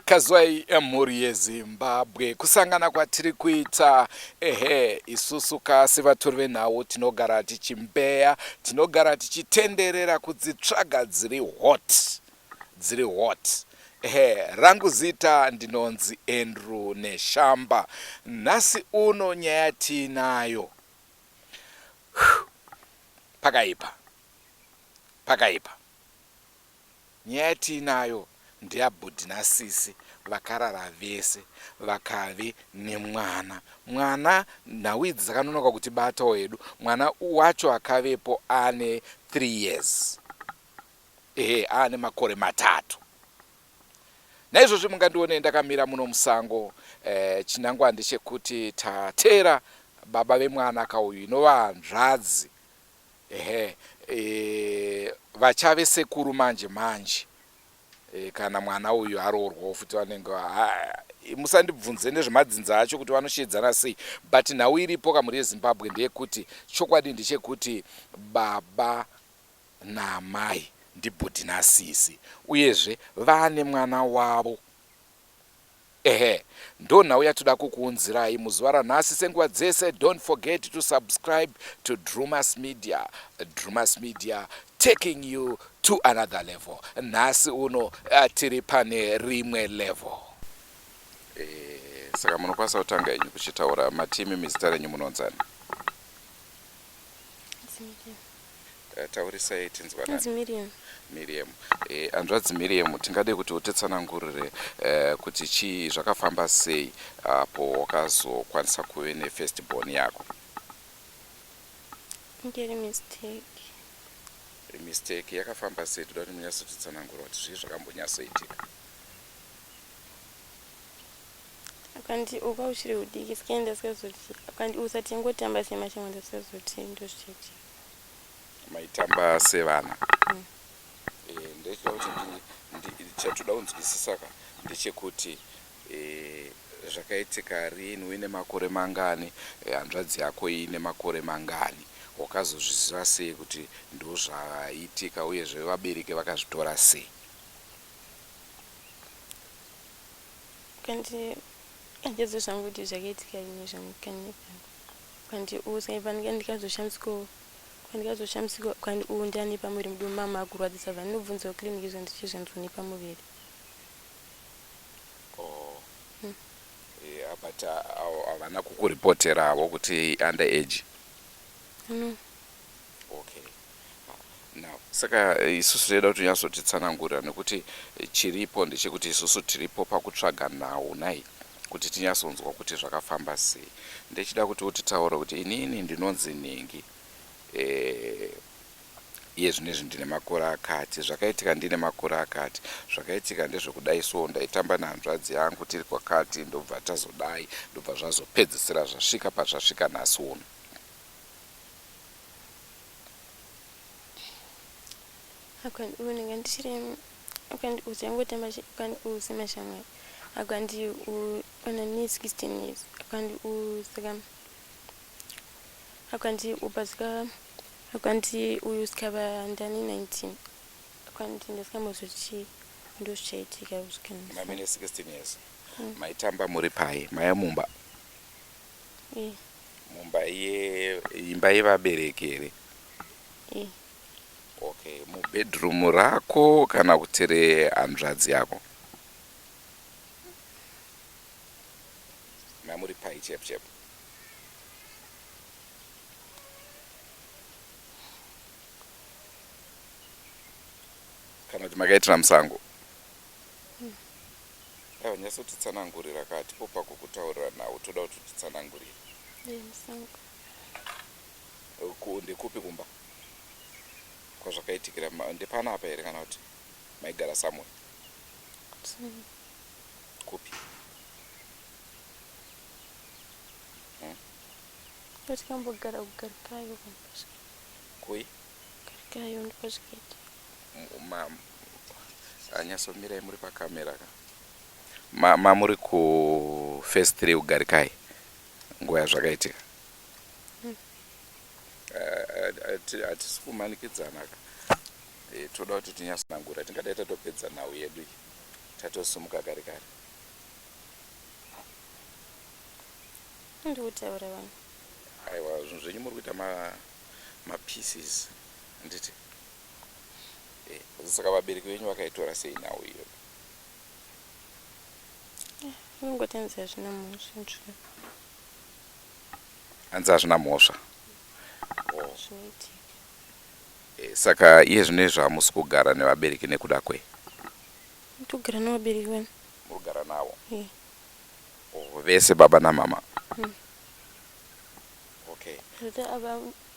Kazwai mhuri yeZimbabwe, kusangana kwatiri kuita ehe, isusu ka sevatori venhau tinogara tichimbeya, tinogara tichitenderera kudzitsvaga dziri hot, dziri hot. Ehe, rangu zita ndinonzi Andrew Neshamba. Nhasi uno nyaya tiinayo pakaipa, pakaipa. Nyaya yatiinayo ndeyabhudhi nasisi vakarara vese vakave nemwana. Mwana nhau idzi dzakanonoka kutibatawo hedu. Mwana wacho akavepo aane three years, ehe aane makore matatu. Naizvozvi mungandione ndakamira muno musango. Eh, chinangwa ndechekuti tateera baba vemwana ka uyu inova hanzvadzi. Ehe eh, vachave sekuru manje manje eh, kana mwana uyu aroorwawo futi vanenge ah, musandibvunze nezvemadzinza acho kuti vanoshedzana sei but nhau iripo kamuri yezimbabwe ndeyekuti chokwadi ndechekuti baba naamai ndibhudhi nasisi uyezve vaane mwana wavo Ehe ndonhau yatoda kukuunzirai muzuva ranhasi senguva dzese don't forget to subscribe to Drewmas media Drewmas media taking you to another level nhasi uno tiri pane rimwe level Saka munokwanisa kutanga henyu kuchitaura matimi mizita renyu munonzani? Eh, taurisai tinzwanani miriam miriam eh, hanzvadzi miriam tingade kuti utitsanangurire eh, kuti chii zvakafamba sei apo ah, wakazokwanisa kuve nefirst born yako ngeri mistake mistake yakafamba sei toda kuti munyatsotitsanangura kuti zvii zvakambonyatsoitika Akandi uka huchiri hudiki sky ndasikazotii akandi usa tingotamba semashamwari ndasikazotii ndozvichaitika. Maitamba sevana. Mm. Eh ndechida kuti ndi chatoda kunzwisisa ka ndechekuti eh zvakaitika rini uine makore mangani eh, hanzvadzi eh, yako ine makore mangani wakazozviziva sei kuti ndozvaitika uyezve vabereki vakazvitora sei Kandi handizo zvangu kuti zvakaitika ini zvangu kandi kandi u sai vanhu kandi kazoshamsiko kandi kazoshamsiko kandi u ndani pamuviri mudu mama akurwadzisa vanhu nobvunzawo clinic zvandichi zvanzoni pamuviri oh. hmm. yeah, but uh, havana uh, kukuripoterawo kuti under age no Saka isusu taida kuti unyatsotitsanangurira nekuti chiripo ndechekuti isusu tiripo pakutsvaga nhau nai kuti tinyatsonzwa kuti zvakafamba sei. Ndechida kuti utitaure kuti inini ndinonzi Nhingi eh, iye zvino izvi ndine makore akati, zvakaitika ndine makore akati, zvakaitika ndezvekudai so, ndaitamba nehanzvadzi yangu tiri kwakati ndobva tazodai, ndobva zvazopedzisira zvasvika pazvasvika nhasi uno. akandiunenga ndichiri akandiuza angotamba akandiuza mashamwari akandiona ne 16 years akandiuza ka akandiupa zika akandiuyu sikava ndani 19 akandi ndasikambozochii ndozvichaitika zvikanamene 16 years mm. maitamba muri pai maya mumba mumba ye imba yevabereki here okay mubedroom rako kana kuti rehanzvadzi yako mamuri pai chep chep kana kuti makaitira musango Aiwa nyatsotitsanangurira ka hatipo pako kutaurira nhau toda kuti utitsanangurire. Ndekupi kumba kwazvakaitikira ndepana apa here kana kuti maigara samwe kupi? Hmm? Tikambogara kugarikayo. Kui? Garikayo ndipo zvikaita. Anyasomirai muri pa camera ka. Ma, ma muri ku first three ugarikai nguva yazvakaitika. Hmm. Eh, hatisi kumanikidzana ka. Eh, toda kuti tinyasanangura tingadai tatopedza nhau yedu iyi tatosumuka kare kare. Ndikutaura vanhu. Aiwa zvinhu zvenyu muri kuita ma ma pieces nditi. Eeh saka vabereki venyu vakaitora sei nhau iyoyo? Vanongoti hanzi hazvina mhosva nzvimbo. Hanzi hazvina mhosva. Oh. Zvinoitika. Eh, saka iye zvino izvo hamusi kugara nevabereki nekuda kwei? Ndogara nevabereki vani. Muri kugara navo? Eh. Oh, vese baba namama. Mm. Okay. Zvota ava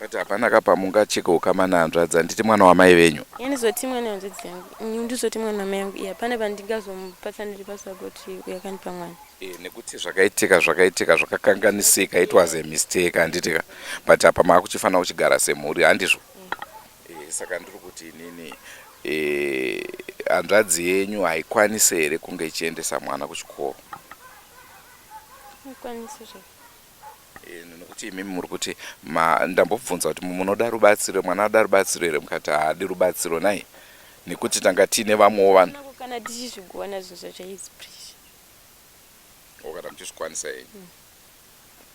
But hapana ka pamunga cheke ukama nehanzvadzi handiti mwana wamai venyu. Ini zoti mwana hanzvadzi yangu. Ini ndizoti mwana wamai yangu. Iya hapana pandingazomupatsaniri basa kuti uyu akandipa mwana. Eh, nekuti zvakaitika zvakaitika zvakakanganisika it was a mistake handiti ka but apa maakuchifanira kuchigara semhuri handizvo eh. eh, saka ndiri kuti inini eh, hanzvadzi yenyu haikwanise here kunge ichiendesa mwana kuchikoro ikwanise zvee nokuti imimi muri kuti ndambobvunza kuti munoda rubatsiro mwana ada rubatsiro here mukati haadi rubatsiro nai nekuti tanga tiine vamwewo vanhu kana tichizvigona zvinhu zvacho haizi pressure oh, kana muchizvikwanisa henyu mm.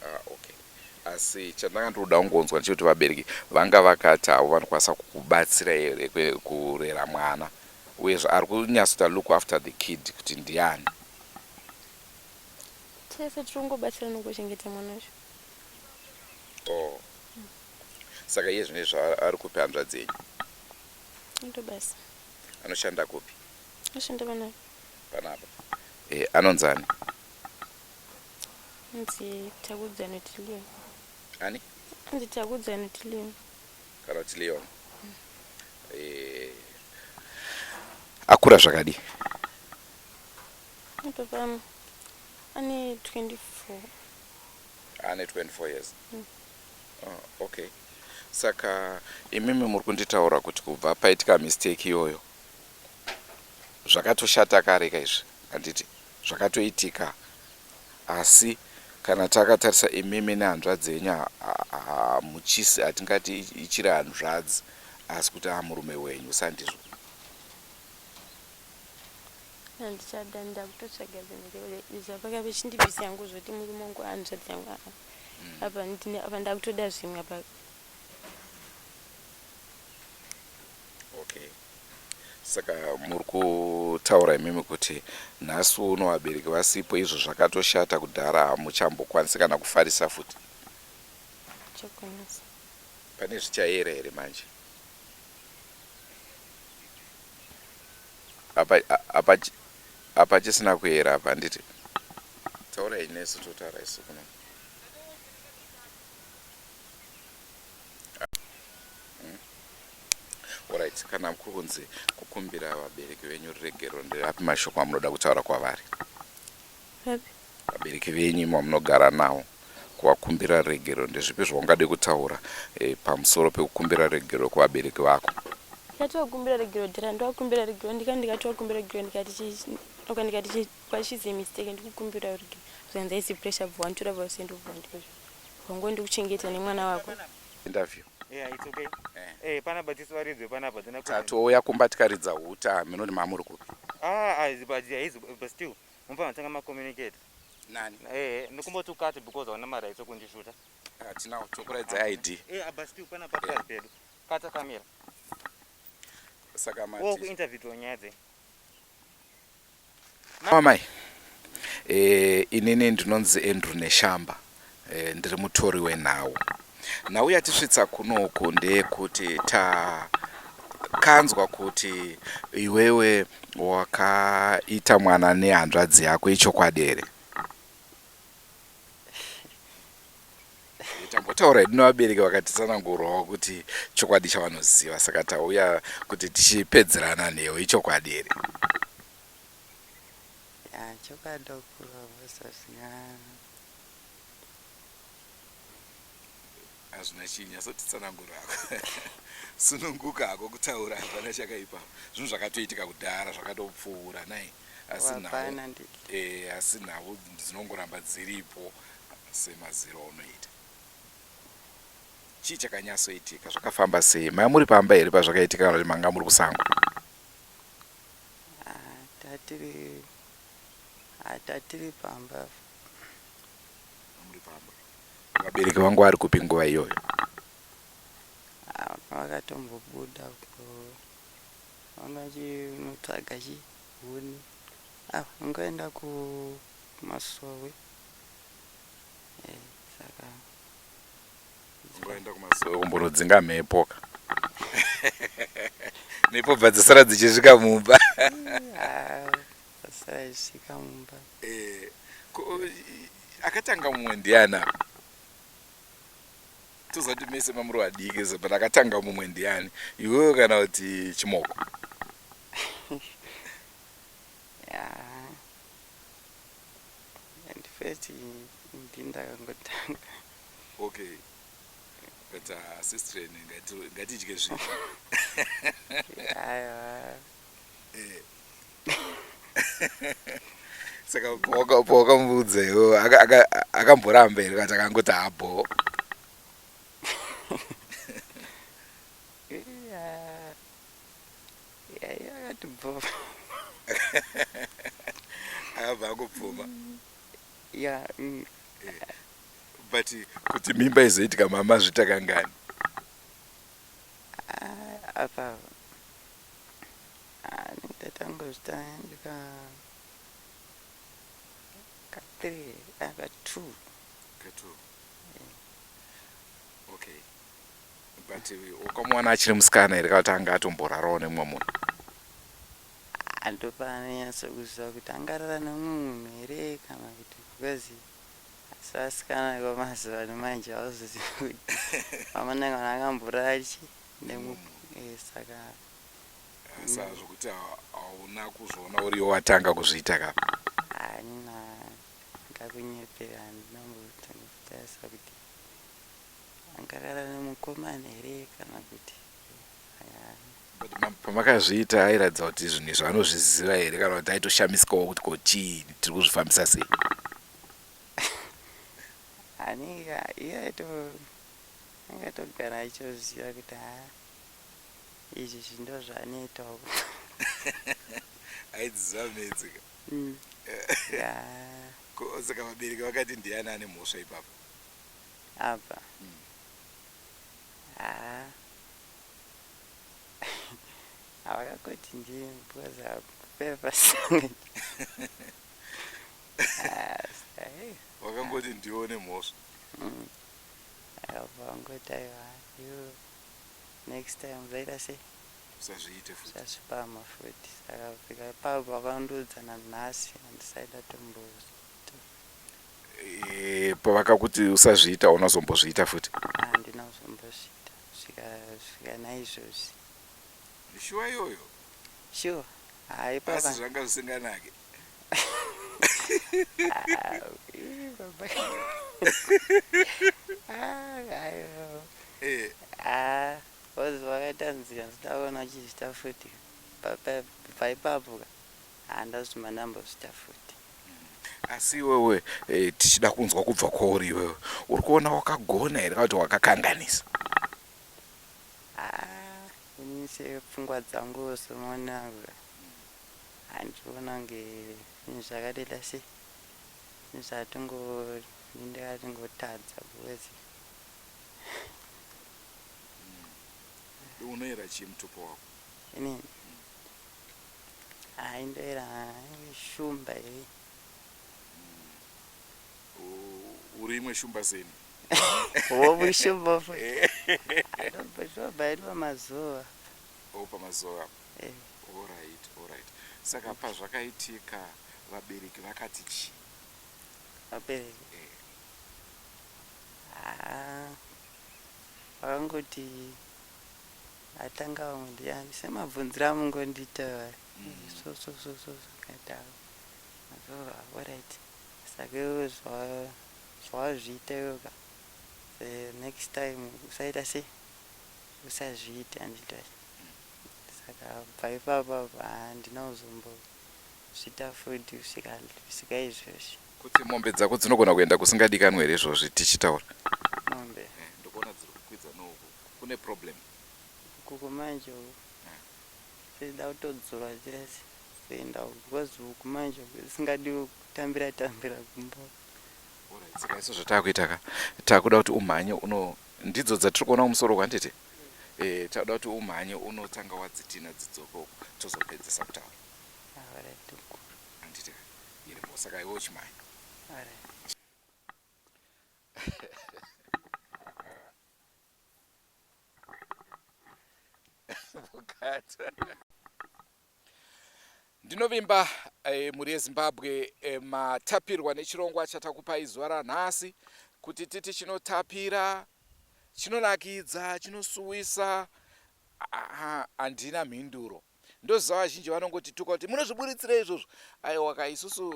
ah, okay asi chandanga ndinoda kungonzwa ndechekuti vabereki vanga vakati havo vanokwanisa kukubatsira here kurera mwana uyezve ari kunyatsoita look after the kid kuti ndiani tese tiri kungobatsira nokuchengeta mwana wacho oh. saka iye zvine zvaari kupi hanzvadzi yenyu ndo basa anoshanda kupi anoshanda panapa panapa eh, anonzani anzi takudzi anoti leon ani anzi takudzi anoti leon kana kuti leon mm. eh, akura zvakadii Baba ane 24. Ane 24 years. Mm. Oh, okay. Saka imimi muri kunditaura kuti kubva paitika mistake iyoyo zvakatoshata kare ka izvi handiti zvakatoitika asi kana takatarisa imimi nehanzvadzi yenyu hamuchisi hatingati ichiri hanzvadzi asi kuti amurume wenyu sandizvo handichada ndakutotsvaga dzimwe dzekuda izvi apaka vechindibvisa yangu zvoti murume wangu ahanzvadzi yangu aa mm. apa ndine apa ndakutoda zvimwe apa okay saka muri kutaura imimi kuti nhasi uno vabereki vasipo izvo zvakatoshata kudhara hamuchambokwanisi kana kufarisa futi chakwanisa pane zvichayera here manje Apa apa apa chisina kuera apa handiti taurai nesu totaura isu kuno hmm? orit kana kuri kunzi kukumbira vabereki venyu ruregero ndirapi mashoko amunoda kutaura kwavari Papi? Vabereki venyu imi vamunogara navo kuvakumbira regero ndezvipi zvaungade kutaura eh, pamusoro pekukumbira regero kuvabereki vako? Ndikati vakumbira regero dhara ndovakumbira regero ndikati ndikati vakumbira regero ndikati chi- oka ndikati chi- but she's a mistake ndikukumbira regero zvikanzi haisi pressure bva wanditora bva usiende bva wanditora wangu ndikuchengeta nemwana wako Interview. Yeah, it's okay. Eh, panapa tisivaridzwe panapa dzina kuti- Tatouya kumba tikaridza huta hameno kuti mamuri kupi. Ah, ah, but yeah, he's- but still. Munofanira kutanga ma communicate. Nani? Eh, ndikumboti ukati because hauna ma rights okundishuta. Hatina kutokuratidza ID. Eh, abasi piu pana papazi pedu. Kata kamera. Saka mati. Wo ku interview to nyaya dzei. Mamai. Eh, inini ndinonzi Andrew Neshamba. Eh, ndiri mutori wenhau. Nhau yatisvitsa kunoku ndeyekuti takanzwa kuti iwewe wakaita mwana nehanzvadzi yako ichokwadi here? tambotaura hedu nevabereki vakatitsanangurawo kuti chokwadi chavanoziva saka tauya kuti tichipedzerana nhau ichokwadi here? hazvina chii nyasotitsanangura hako sununguka hako kutaura hapana chakaipa zvinhu zvakatoitika kudhara zvakatopfuura nai asi nhau e, asi nhau dzinongoramba dziripo semaziro aunoita chii chakanyasoitika zvakafamba sei maya muri pamba here pazvakaitika kana kuti manga muri kusango ah, tatiri Ah tatiri pamba apa. Muri pamba. Vabereki vangu vari kupi nguva iyoyo? Ah vakatombobuda uko. Vanga vachinotsvaga chi huni. Ah vanga vaenda ku masowe. Eh saka Dzingoenda kumasowe kumborodzinga mhepo ka. Mhepo bva dzasara dzichisvika mumba. Dzasara dzichisvika mumba. Eh, akatanga mumwe ndiani apa? Tozati mese mamuri vadiki so but akatanga mumwe ndiani? Iwewe kana kuti Chimoko? and first ndi ndakangotanga okay but uh, sister ngatidye zvinhu aiwa eh. saka pawakamubudza iwo akamboramba here kati akangoti habho akatibvova akabva akubvuma ya mm. eh, but kuti mimba izoitika mama zvitakangani ah, apa ah, ndatangozvita ndika ka three ah, ka two ka two ukamuwana achiri musikana here kana tanga atomborarawo nemumwe munhu andopananyatso kuziva kuti angarara nemumwe munhu here kana kuti because asi asikana kwamazuva ano manje auzozivi kuti amananga kana akamborara chi nemumwe mm. eh, saka asi hazvokuti hauna kuzviona uriyo watanga kuzviita ka hanina ngakunyepera ndinambotangakutarisa kuti Angarara nemukomana here kana kuti pamakazviita airatidza kuti zvinhu izvo anozviziva here kana kuti aitoshamisikawo kuti ko chii tiri kuzvifambisa sei anenge iye aito anenge atogara aitoziva kuti ha izvi zvindo zvaanoitawo aidziziva medzika mm. saka vabereki vakati ndiani ane mhosva ipapo apa haa havakakoti ndiye because hakupera pasanga vakangoti ndiwo nemhosva mm. apa vangoti aiwa you next time zvaita sei usazviite futi usazvipama futi saka fika ipapo vakandiudza nanhasi handisaida tombouza Eh, pavakakuti usazviita unozombozviita futi handina kuzombozviita svika svika naizvozvi shuwa iyoyo sure hayi papa asi zvanga zvisinganake Ah, ii, baba. Ah, hayi baba. Eh, Ah, was vakaita nzira ndoda kuona uchizviita futi paipapo ka handazvima ndambozviita futi asi iwewe eh, tichida kunzwa kubva kwauri iwewe uri kuona wakagona here kana kuti wakakanganisa Ah, ini sepfungwa dzangu semona handiona kunge zvinhu zvakadela se zvinhu zvatingo ndindatingotadza kuwezi unoera chii mutupo wako inini Hayi into ere hayi shumba ere. U- uri imwe shumba seni Wobu shumba futi. I don't be sure but iri pamazuva. o pamazuva apo Eh. orit orit saka pazvakaitika vabereki vakati chii Vabereki. Eh. Ah. Vakangoti Atanga vamwe ndiyani semabvunzira amungondiita so so so so zvakadaro mazoro aoright saka iwe zvawazviita iwe ka the next time usaita sei usazviite andita saka bva ipapa handina kuzombozvita fudhi usika izvozvi kuti mombe dzako dzinogona kuenda kusingadikanwe here izvozvi tichitaura mombe eh, ndokuona dziri kukwidza nouku Kune problem. Ukoko manje uko. Zvoda kutodzorwa zvese zvoenda uko because uku manje uku zvisingadiwe kutambira tambira kumba uko. Alright, saka isu zvataakuita ka takuda kuti umhanye uno ndidzo dzatiri kuona kumusoro uko handiti? Eh, takuda kuti umhanye unotanga wadzitina dzidzoke uko tozopedzisa kutaura Alright mkuru. handiti ka? Iri bho saka iwe uchimhanya. Alright. ndinovimba eh, mhuri yezimbabwe eh, matapirwa nechirongwa chatakupai zuva ranhasi kuti titi chinotapira chinonakidza chinosuwisa handina mhinduro ndoziva vazhinji vanongoti tuka kuti munozviburitsira izvozvo aiwa ka isusu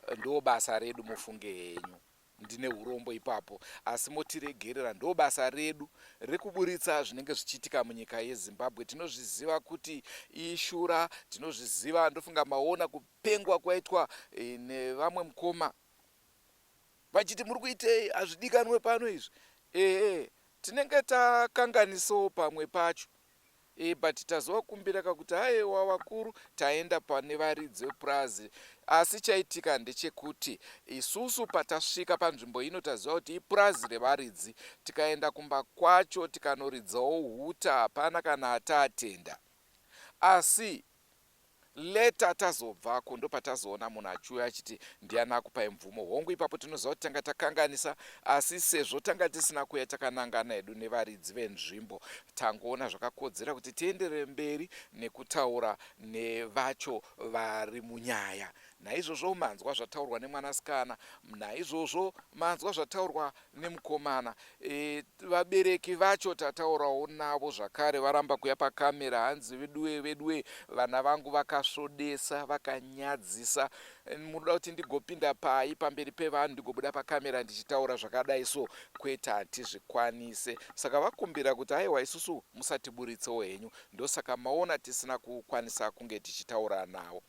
eh, ndo basa redu mufunge henyu ndine urombo ipapo asi motiregerera ndobasa redu rekuburitsa zvinenge zvichiitika munyika yezimbabwe tinozviziva kuti ishura tinozviziva ndofunga maona kupengwa kwaitwa e, nevamwe mukoma vachiti muri kuitei hazvidikanwe pano izvi ehe tinenge takanganisawo pamwe pacho Eeh but tazovakumbira ka kuti aewa vakuru taenda pane varidzi vepurazi asi chaitika ndechekuti isusu patasvika panzvimbo ino taziva kuti ipurazi revaridzi tikaenda kumba kwacho tikanoridzawo huta hapana kana ataatenda asi later tazobvako ndopatazoona munhu achiuya achiti ndiani akupai mvumo hongu ipapo tinoziva kuti tanga takanganisa asi sezvo tanga tisina kuya takanangana hedu nevaridzi venzvimbo tangoona zvakakodzera kuti tienderere mberi nekutaura nevacho vari munyaya naizvozvo manzwa zvataurwa nemwanasikana naizvozvo manzwa zvataurwa nemukomana e, vabereki vacho tataurawo navo zvakare varamba kuya pakamera hanzi veduwe veduwe vana vangu vakasvodesa vakanyadzisa munoda kuti ndigopinda pai pamberi pevanhu ndigobuda pakamera ndichitaura zvakadai so kwete hatizvikwanise saka vakumbira kuti aiwa isusu musatiburitsewo henyu ndosaka maona tisina kukwanisa kunge tichitaura navo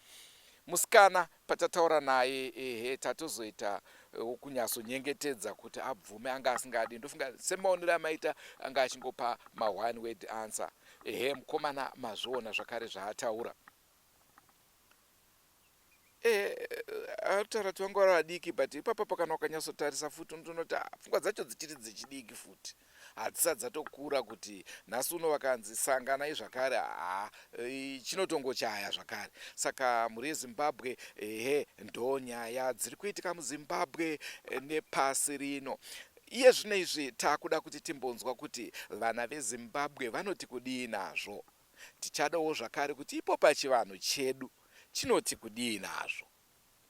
musikana Patataura naye ehe tatozoita wokunyatso nyengetedza kuti abvume anga asingadi ndofunga semaonero amaita anga achingopa ma one word answer ehe mukomana mazviona zvakare zvaataura ehe ataura kuti vanga vari vadiki but ipapa pakanwa ukanyatsotarisa futi ndinoti ah, pfungwa dzacho dzichiri dzechidiki futi hadzisati dzatokura kuti nhasi uno vakanzi sanganai zvakare haa eh, chinotongochaya zvakare saka mhuri yezimbabwe ehe ndo nyaya dziri kuitika muzimbabwe eh, nepasi rino iye zvino izvi takuda kuti timbonzwa kuti vana vezimbabwe vanoti kudii nazvo tichadawo zvakare kuti ipo pachivanhu chedu chinoti kudii nazvo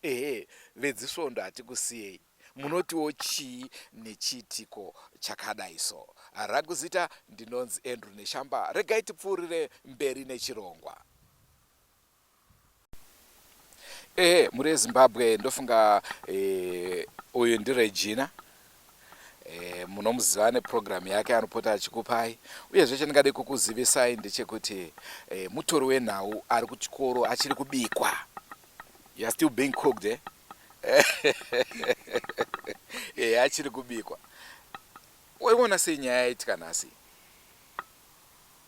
Ehe vedzisvondo hatikusiyei munotiwo chii nechiitiko chakadai so. Rangu zita ndinonzi Andrew Neshamba regai tipfuurire mberi nechirongwa. Ehe mhuri yeZimbabwe ndofunga eh, uyu ndiRegina Eh, munomuziva neprogram yake anopota achikupai uyezve chandingade kukuzivisai ndechekuti eh, mutori wenhau ari kuchikoro achiri kubikwa youare still being cooked eh? eh, achiri kubikwa waiona sei nyaya yaitika nhasi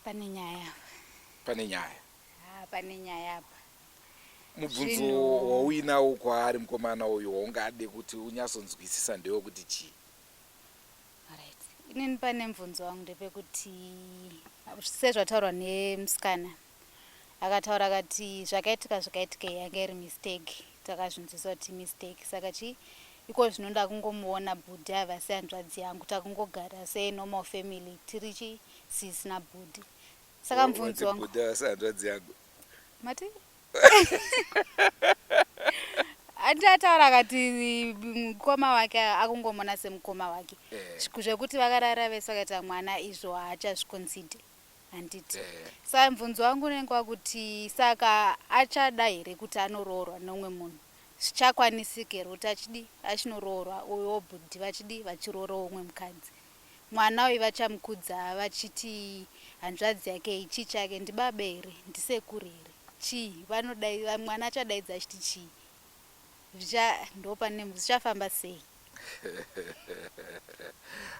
pane nyaya pane nyaya ah, pane nyaya apa mubvunzo Zvinhu- wauinawo kwaari mukomana uyu waungade kuti unyatsonzwisisa ndewe kuti chii Alright. inini pane mubvunzo wangu ndepekuti sezvataurwa nemusikana akataura akati zvakaitika zvakaitika iyi yanga iri mistake takazvinzwisisa kuti mistake saka chii iko zvino ndakungomuona bhudhi ava sehanzvadzi yangu takungogara senormal family tiri chii sisi nabhudhi saka mubvunzo wangu sehanzvadzi yangu mati ati ataura akati mm, mukoma wake akungomona semukoma wake Eh. Zviku- zvekuti vakarara vese vakaita mwana izvo haachazvikonside handiti Eh. sa mvunzo wangu unenge wakuti saka achada here kuti anoroorwa nomwe munhu zvichakwanisika here kuti achidi achinoroorwa uyo wobhudhi vachidi vachiroorawo umwe mukadzi mwana uyu vachamukudza vachiti hanzvadzi yake iyi chii chake ndibaba here ndisekuru here chii vanodai mwana achadaidza achiti chii zvicha ndopane zvichafamba sei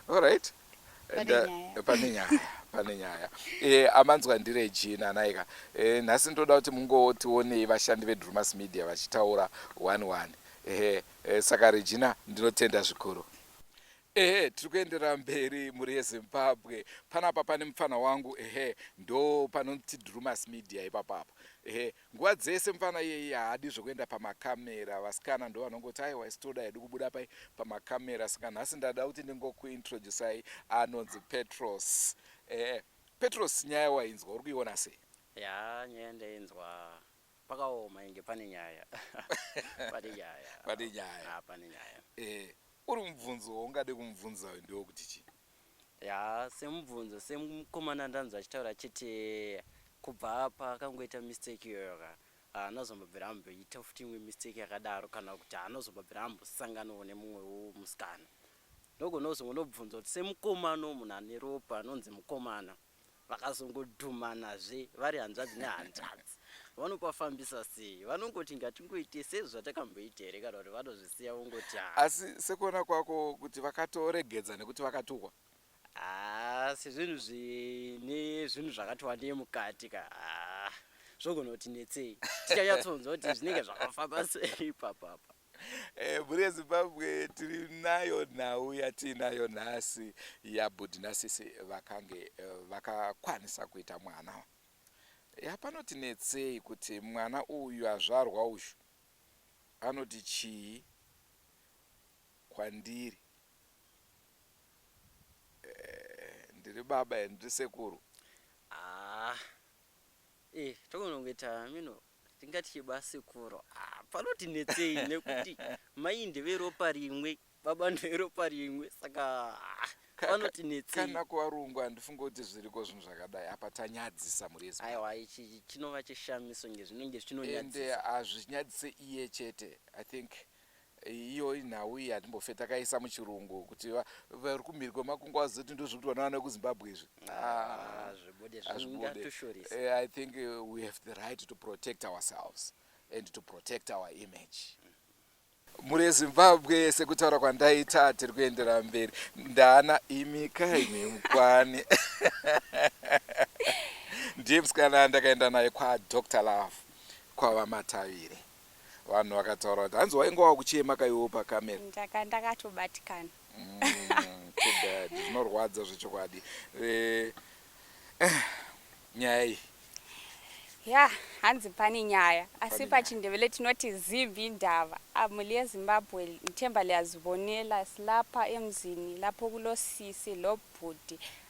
alright pane nyaya pane nyaya e, amanzwa ndireji nanaika e, eh, nhasi ndoda kuti mungotionei vashandi vedrumas media vachitaura one one ehe e, saka regina ndinotenda zvikuru Ehe, tiri kuenderera mberi mhuri yezimbabwe panapa pane mupfana wangu ehe ndo panoti drewmas media ipapapa ehe nguva dzese mupfana iyeyi haadi zvekuenda pamakamera vasikana ndo vanongoti aiwa isi toda hedu kubuda pai pamakamera saka nhasi ndada kuti ndingokuintroducai anonzi petros ehe petros nyaya wainzwa uri kuiona sei ya nyaya ndainzwa Pakaoma inge pane nyaya. pane nyaya. pane nyaya. Ah, pane nyaya. Eh, uri mubvunzo waungade kumubvunza uyu ndiwo kuti chii? Ya, semubvunzo semukomana ndanzwa achitaura chete kubva paakangoita mistake iyoyo ka anozombobvira amboita futi imwe mistake yakadaro kana kuti anozombobvira ambosanganawo nemumwewo musikana ndogonozongonobvunza kuti semukomana munhu ane ropa anonzi mukomana vakazongodhumanazve vari hanzvadzi nehanzvadzi vanopafambisa sei vanongoti ngatingoite sezvatakamboita here kana kuti vanozvisiya vongoti ha asi sekuona kwako kuti vakatoregedza nekuti vakatuhwa asi zvinhu zvine zvinhu zvakati wandei mukati ka zvogona kuti netsei tichanyatsonzwa kuti zvinenge zvakafamba sei ipapapa Eh, mhuri yezimbabwe tiri nayo nhau yatiinayo nhasi yabhudhi nasisi vakange eh, vakakwanisa kuita mwana yapanoti netsei kuti mwana uyu azvarwa uyu anoti chii kwandiri eh, ndiri baba and ndiri sekuru ah. eh, tokonongoita mino Hatingatye basekuru ah, panoti netsei nekuti mai ndeveropa rimwe baba ndeveropa rimwe saka ah, panoti netsei kana kuvarungu handifunge kuti zviriko zvinhu zvakadai apa tanyadzisa mhuri yezi aiwa ichi chinova chishamiso nge zvinenge ende zvinonyadzisa hazvinyadzise iye chete i think Iyo inhau iyi hatimbofe takaisa muchirungu kuti vari kumhiri kwemakungwa vazoti ndozvekuti vana vana vekuzimbabwe izvi ah, eh, i think uh, we have the right to protect ourselves and to protect our image mhuri yezimbabwe sekutaura kwandaita tiri kuendera mberi ndana imi kaine mukwani ndiye musikana ndakaenda naye kwadr love kwavamatavire vanhu vakataura kuti hanzi wainge wakuchema kaiwewo pacamera ndaka ndakatobatikana Mm, too bad zvinorwadza zvechokwadi Eh, eh, nyaya iyi ya hanzi pane nyaya asi Pane nyaya. pachindevele tinoti zimbi ndava amuli yezimbabwe nthemba liyazibonela silapha emzini lapho kulosisi lobhuti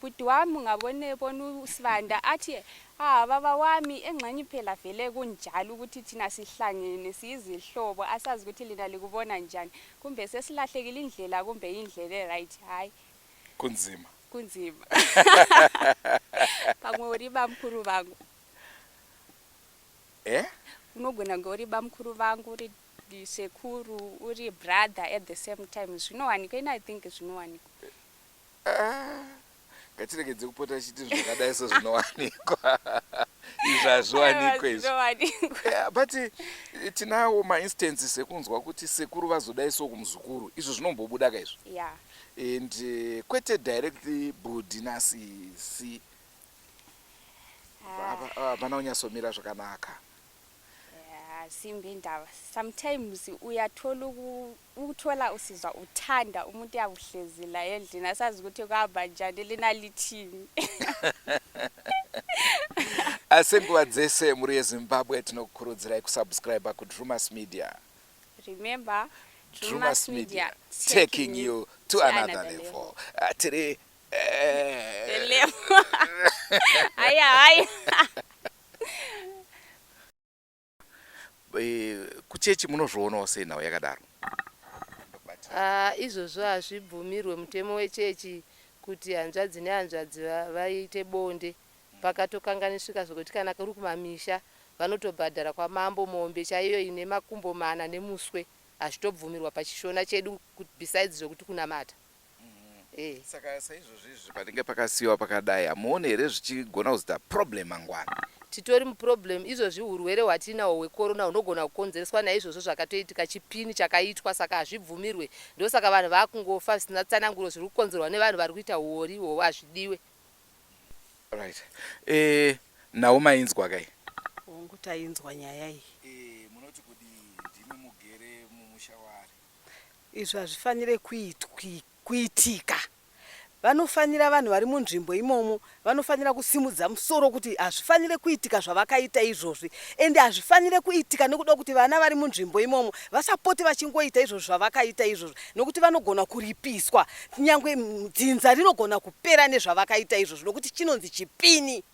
Bhuti wami ungabone bona usibanda athi ah baba wami engxenye phela vele kunjalo ukuthi thina sihlangene siyizihlobo asazi ukuthi lina likubona njani kumbe sesilahlekile indlela kumbe indlela eright hayi kunzima kunzima pamwe uri bamkhulu vangu eh unogona kunge uri bamkhulu vangu uri sekuru uri brother at the same time zvinowanika ini i think zvinowanika ngatiregedze kupota tichiti zvakadai so zvinowanikwa izvi hazviwanikwe izvi eh, but eh, tinawo mainstances ekunzwa kuti sekuru vazodai so kumuzukuru izvo zvinombobuda ka izvo yeah. and uh, kwete directly budi nasisi ah. hapana ah, unyatsomira zvakanaka Simbi indaba sometimes uyathola ukuthola usizwa uthanda umuntu uyakuhlezi la endlini asazi ukuthi kuhamba njani lina lithini asi nguva dzese mhuri yezimbabwe tinokukurudzirai kusubscribe kudrumas media remember drumas media taking you to another level ah, tiri eh. level haya haya Eh, kuchechi munozvionawo sei nhau yakadaro ah, izvozvo hazvibvumirwe mutemo wechechi kuti hanzvadzi nehanzvadzi vaite bonde pakatokanganisvika zvekuti kana kuri kumamisha vanotobhadhara kwamambo mombe chaiyo ine makumbo mana nemuswe hazvitobvumirwa pachishona chedu besides zvekuti kunamata Eh. saka saizvozvi izvi panenge pakasiyiwa pakadai hamuone here zvichigona kuzoita problem mangwana titori muproblem izvozvi hurwere hwatiinawo hwekorona hunogona kukonzereswa naizvozvo zvakatoitika chipini chakaitwa saka hazvibvumirwe ndosaka vanhu vakungofa zvisina tsananguro zviri kukonzerwa nevanhu vari kuita huori ihwohwo hazvidiwe right eh, nhau mainzwa kai hongu tainzwa nyaya iyi eh, munoti kudii ndimi mugere mumusha waari Izvi hazvifanire kuitika. Vanofanira vanhu vari munzvimbo imomo vanofanira kusimudza musoro kuti hazvifanire kuitika zvavakaita izvozvi ende hazvifanire kuitika nekuda kuti vana vari munzvimbo imomo vasapoti vachingoita izvozvi zvavakaita izvozvi nokuti vanogona kuripiswa nyangwe dzinza rinogona kupera nezvavakaita izvozvi nokuti chinonzi chipini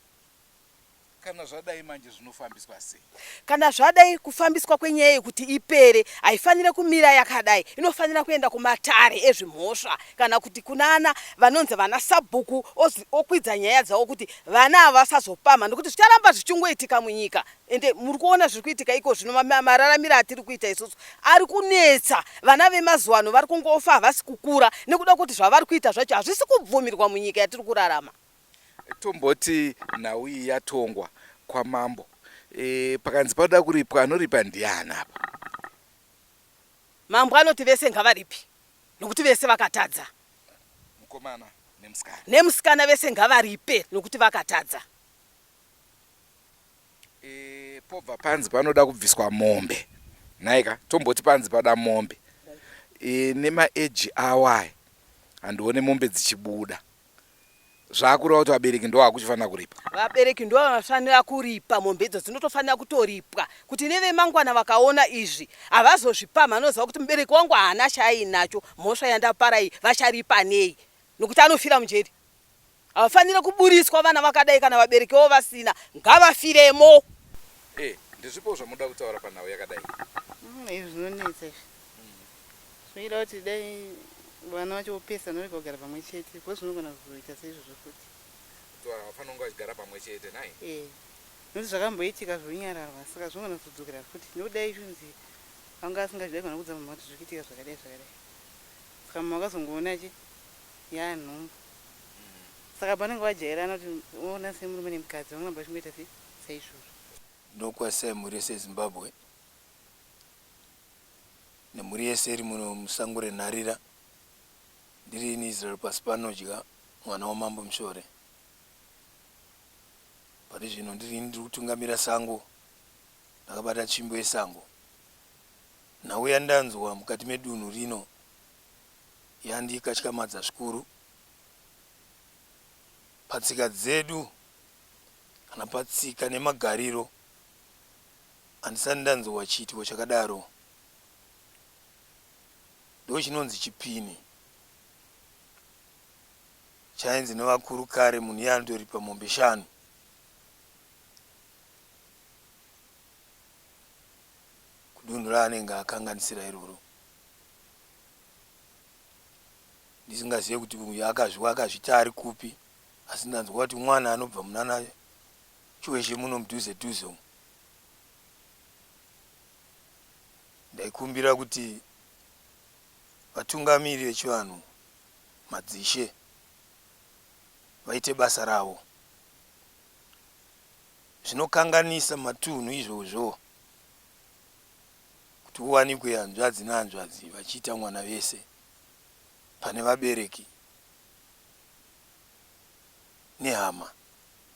Kana zvadai manje zvinofambiswa sei? Kana zvadai kufambiswa kwenyaya yekuti ipere haifanire kumira yakadai, inofanira kuenda kumatare ezvimhosva kana kuti kunana vanonzi vana sabhuku okwidza nyaya dzavo kuti vana ava vasazopamha nekuti zvicharamba zvichingoitika munyika ende muri kuona zviri kuitika iko zvino mararamiro atiri kuita isusu ari kunetsa vana vemazuva ano vari kungofa havasi kukura nekuda kuti zvavari kuita zvacho hazvisi kubvumirwa munyika yatiri kurarama. Tomboti nhau iyi yatongwa kwamambo e, pakanzi panoda kuripwa anoripa ndiani apa? Mambo anoti vese ngavaripi nokuti vese vakatadza. Mukomana nemusikana. Nemusikana vese ngavaripe nokuti vakatadza. E, pobva panzi panoda kubviswa mombe nhaika tomboti panzi pada mombe e, nemaeji awaya handione mombe dzichibuda Zvakureva kuti vabereki ndo vakuchifanira kuripa. Vabereki ndo vanofanira kuripa mombe idzo dzinotofanira kutoripwa kuti nevemangwana vakaona izvi havazozvipamhi anoziva kuti mubereki wangu haana chaainacho mhosva yandapara iyi vacharipa nei nokuti anofira mujeri. Havafanire kuburitswa vana vakadai kana vabereki vavo vasina ngavafiremo. Hey, ndezvipo zvamunoda kutaura panhau yakadai? Mm, izvi zvinonetsa izvi. Zvinoita kuti dai vana vacho vopesana vorega kugara pamwe chete because zvinogona kuzoita seizvozvo futi. Kuti vanhu havafaniri kunge vachigara pamwe chete nhai? Eh. Nokuti zvakamboitika zvonyararwa saka zvinogona kuzodzokera futi nokuti dai zvonzi anga asingazvidi aigona kuudza mama kuti zviri kuitika zvakadai zvakadai. Saka mama vakazongoona chi yaa nhumbu. Saka pavanenge vajairana kuti unoona semurume nemukadzi vanogona vachingoita se saizvozvo. Nokwa Sam rese Zimbabwe. nemhuri yese iri muno musango renharira ndiri ini Israel Pasipanodya mwana wamambo Mushore pari zvino ndiri ini ndiri kutungamira sango ndakabata tsvimbo yesango nhau yandanzwa mukati medunhu rino yandikatyamadza zvikuru patsika dzedu kana patsika nemagariro Handisati ndanzwa chiitiko chakadaro. Ndochinonzi chipini chainzi nevakuru kare munhu iye anotoripa mombe shanu. Kudunhu raanenge akanganisira iroro. Ndisingazive kuti uyu akazviwa akazvita ari kupi asi ndanzwa kuti mwana anobva munana Chiwezhe muno mudhuze dhuze umu. Ndaikumbira kuti vatungamiri vechivanhu madzishe vaite basa ravo. Zvinokanganisa matunhu izvozvo kuti uwanikwe hanzvadzi nehanzvadzi vachiita mwana vese pane vabereki nehama.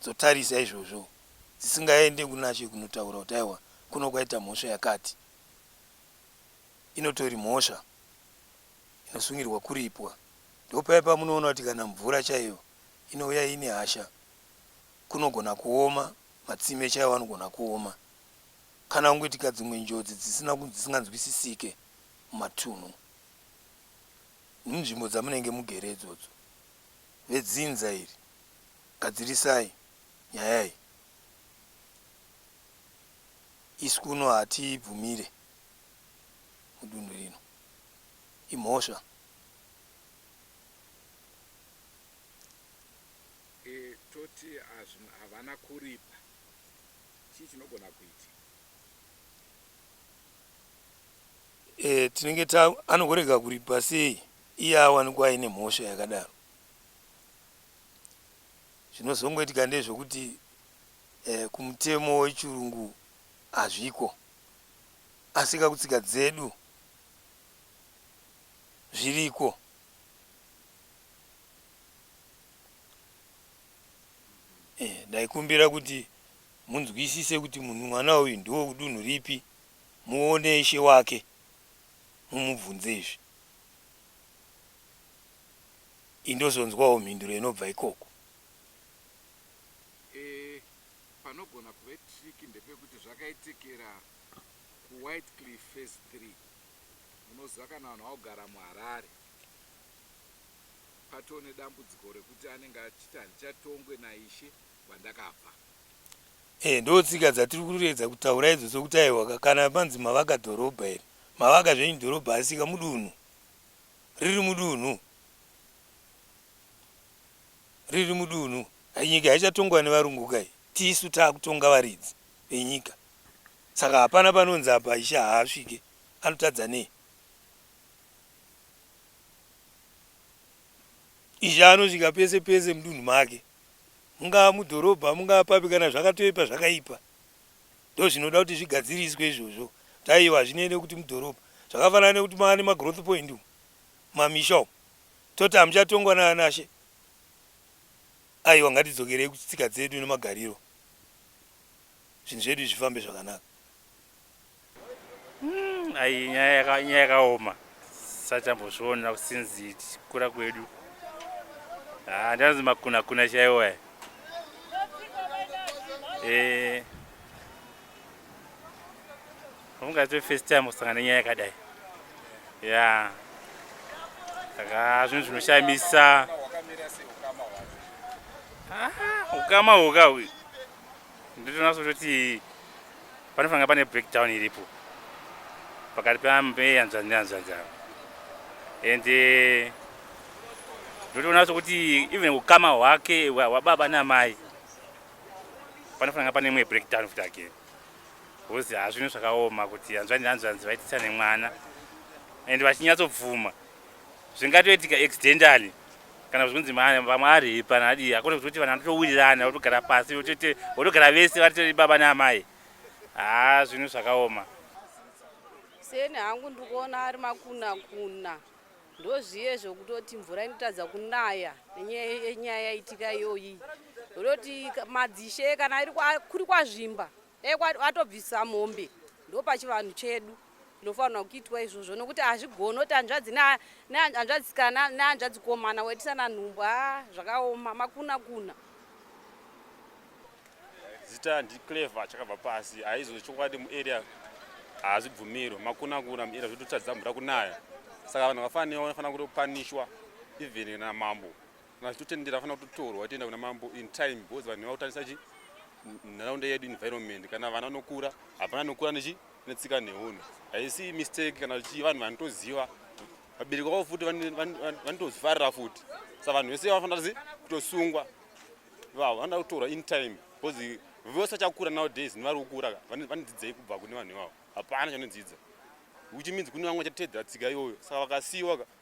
dzotarisa izvozvo dzisingaende kunaShe kunotaura kuti aiwa kuno kwaita mhosva yakati inotori mhosva inosungirwa kuripwa ndopaye pamunoona kuti kana mvura chaiyo inouya iine hasha kunogona kuoma matsime chaiwo anogona kuoma kana kungoitika dzimwe njodzi dzisina dzisinganzwisisike mumatunhu munzvimbo dzamunenge mugere idzodzo vedzinza iri Gadzirisai nyaya iyi isu kuno hatibvumire mudunhu rino imhosva. Toti havana kuripa chii chinogona kuitika. Tinenge ta anogorega kuripa sei iye awanikwa aine mhosva yakadaro. Zvinozongoitika ndezvekuti eh, kumutemo wechirungu hazviko asi kakutsika dzedu zviriko eh, ndaikumbira kuti munzwisise kuti munhu mwana uyu ndiwo kudunhu ripi muone ishe wake mumubvunze izvi Ini ndozonzwawo mhinduro inobva ikoko. Eeh panogona kuve tricky ndepekuti zvakaitikira ku Whitecliff phase three munoziva kana vanhu vaogara mu Harare patoo nedambudziko rekuti anenge achiti handichatongwe na Ishe kwandakabva. Eeh ndotsika dzatiri kuedza kutaura idzo sokuti aihwa ka kana panzi mavaka dhorobha iri mavaka zvenyu dhorobha asika mudunhu. riri mudunhu riri mudunhu hai nyika haichatongwa nevarungu kai tisu taakutonga varidzi venyika saka hapana panonzi apa ishe haasvike anotadza nei ishe anosvika pese pese mudunhu make mungaa mudhorobha mungaa papi kana zvakatoipa zvakaipa ndozvinoda kuti zvigadziriswe izvozvo kuti aiwa hazvinei nekuti mudhorobha zvakafanana nekuti mava nemagrowth point umu mamisha umu toti hamuchatongwa naanashe aiwa ngatidzokerei kutsika dzedu nemagariro zvinhu zvedu zvifambe zvakanaka Mm, ayi nyaya yakaoma sachambozviona since kura kwedu haa ah, ndanzi makunakuna chaiwo aya eh, ungatwe first time kusangana nenyaya yakadai ya saka zvinhu zvinoshamisa ukama ah, hwuka uyu Ndinoona kuti panofanira pane breakdown iripo pakati peanzvanzi neanzvanzi ava and eh, ndotoona sokuti even ukama hwake hwababa namai panofanira pane imwe breakdown futi again bcause hazvino zvakaoma kuti hanzvanzi hanzvanzi vaitisa nemwana and vachinyatsobvuma zvingatoitika accidentally kana zvikunzi vamwe aripa nadii akone kutoti vanhu vanotowirirana votogara pasi votoite votogara vese vatori baba naamai haa zvinhu zvakaoma seni hangu ndiri kuona ari makuna kuna ndozviye zvokutoti mvura inotadza kunaya nenyaya yaitika iyoyi roti madzishe kana kuri kwazvimba dai watobvisa mombe ndopachivanhu chedu zinofanirwa kuitwa izvozvo nokuti hazvigoni kuti hanzvadzi nehanzvadzikana nehanzvadzikomana waitisana nhumbu a zvakaoma makuna kuna zita ndiclever chakabva pasi haizo chokwadi muarea haazvibvumirwe makuna kuna muarea zvototadza mvura kunaya saka vanhu vafaniwa vanofanira kutopanishwa even namambo kana totendera fanira kutotorwa toenda kuna mambo in time because vanhu vakutangisa chi nharaunda yedu environment kana vana vanokura hapana nokura nechi netsika nehono haisi mistake kana chii vanhu vanotoziva vabereki vavo futi vanotozvifarira futi sa vanhu vese vanofanira zi kutosungwa vavo vanoda kutorwa in time because vose vachakura nowadays nevari kukura vanodzidzei kubva kune vanhu ivavo hapana chanodzidza which means kune vamwe vachatedzera tsika iyoyo saka vakasiyiwa